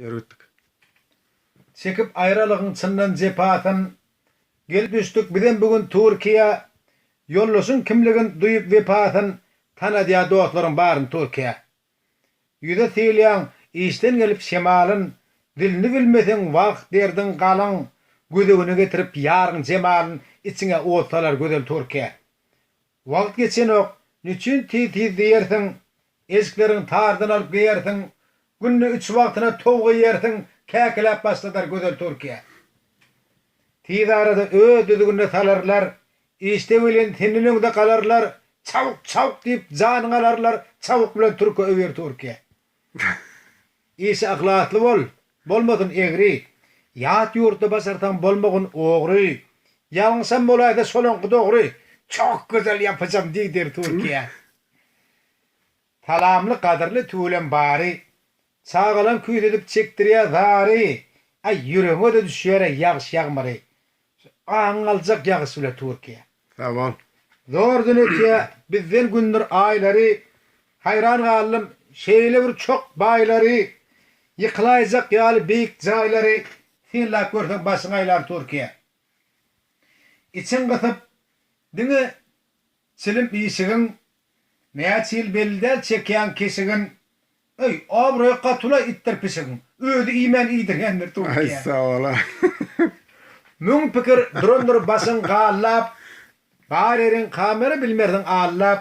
Ýörütdik. Çekip aýralygyň çyndan jepasyn. Gelip düşdük bizem bu gün Türkiýä. Ýoldaşyň kimligin duýup wepasyn. Tanadýa dostlaryň baryn Türkiýä. Ýüze sylýaň işden gelip şemalyn. Dilini bilmeseň wah derdiň galyň. Gözegine getirip ýaryň jemalyn. Içiňe ot salar gözel Türkiýä. Wagt geçenok, niçin tiz-tiz diýersiň, Eşikleriň tardan alyp geýersiň, Günde üç wagtyna towuk iýersiň, Käkiläp başladar gözel Türkiýe. Tiz arada öz düzgünine salarlar, Işde welin senden öňde galarlar, Çawuk-çawuk diýip janyňy alarlar, Çawuk bilen türke öwer Türkiýe. Işe yhlasly bol, bolmasyn egri, Ýat ýurtda başarsaň bolmagyn ogry, Ýalňyşam bolaýsa şolaňky dogry, Çok gözel yapacam diý der Türkiýä. Salamly gadyrly tüwelem bary, Çagalaň küýsedip çekdirýä zary, Aý ýüregiňe-de düşýär-eý ýagyş ýagmyry, Aň aljak ýagyş bile Türkiýe. Sag bol. Zor dünetiýa bizden gündür aýlary Haýran galdym şeýle bir çok baýlary Ýykylaýjak ýaly beýik jaýlary Synlap görseň başyň aýlar Türkiýe. Içiň gysyp diňe çilim işigin Näçe ýyl belli däl çekýäň keşigin Öý obraýy gotula itdir pişigiň. Özi iýmän iýdirýän bir towuk ýa. Aý sabola. Müň pikir durandyr başyň gallap. Bar ýeriň kamera bilmersiň allap.